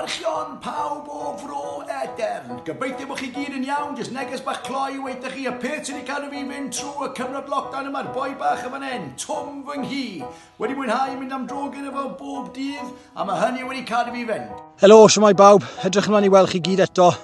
Archeon pawb o Fro Edern. Gobeithio bod chi gyd yn iawn, jyst neges bach cloi i weud 'da chi y peth sy' 'di cadw fi fynd trw y cyfnod lockdown yma'r boi bach yn fan 'yn, Twm fy nghi. Wedi mwynhau mynd am dro gyda fo bob dydd a ma' hynny wedi cadw fi fynd. Helo, shwmae bawb, edrych ymlaen i weld chi gyd eto.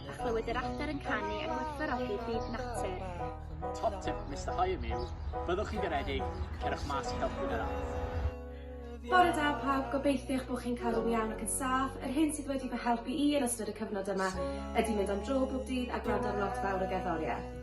a chlywed yr adar yn canu a gwerthfawrogi byd natur. Top tip Mister Hyam yw, byddwch chi'n garedig, cerwch mas i helpu yr ardd. Bore da pawb, gobeithio eich bod chi'n cael yn iawn ac yn saff. Yr hyn sydd wedi fy helpu i yn ystod y cyfnod yma ydy mynd am dro bob dydd a gwrando ar lot fawr o gerddoriaeth.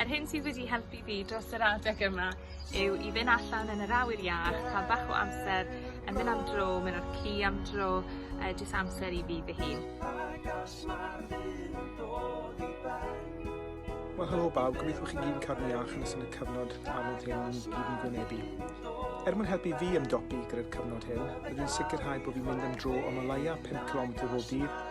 Yr hyn sydd wedi helpu fi dros yr adeg yma yw i fyn' allan yn yr awyr iach, ca'l bach o amser yn myn' am dro, myn' ar ci am dro, yy jyst amser i fi fy hun. Wel helo bawb, gobeithio bo' chi gyd yn cadw'n iach yn ystod y cyfnod anodd hyn ni gyd yn gwynebu. Er mwyn helpu fi ymdopi gyda'r cyfnod hyn, byddwn yn sicrhau bo' fi'n mynd am dro o ma leia' pump cilometr bob dydd,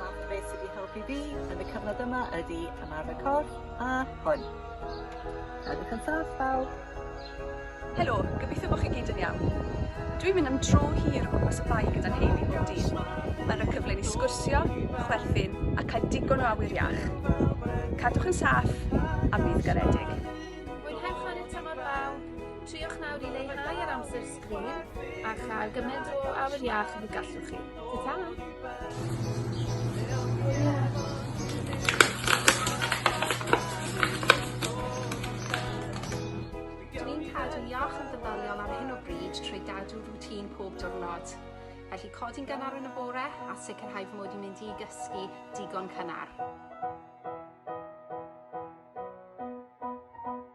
Nawr beth sydd wedi helpu fi yn y cyfnod yma ydy ymarfer corff a hwn. Edrych yn saff bawb! Helo, gobeithio bod chi gyd yn iawn. Dwi'n mynd am dro hir o gwmpas y Bae gyda'n nheulu bob dydd. Mae'n rhoi cyfle i ni sgwrsio, chwerthin a cael digon o awyr iach. Cadwch yn saff a bydd garedig! Mwynhewch chwarae tymor bawb! Triwch nawr i leihau yr amser Llun, a chael gymaint o awyr iach ag y gallwch chi. Dw i'n cadw'n iach yn feddyliol ar hyn o bryd trwy gadw rŵtîn pob diwrnod. Felly codi'n gynnar yn y bore a sicrhau fy mod i'n mynd i gysgu digon cynnar.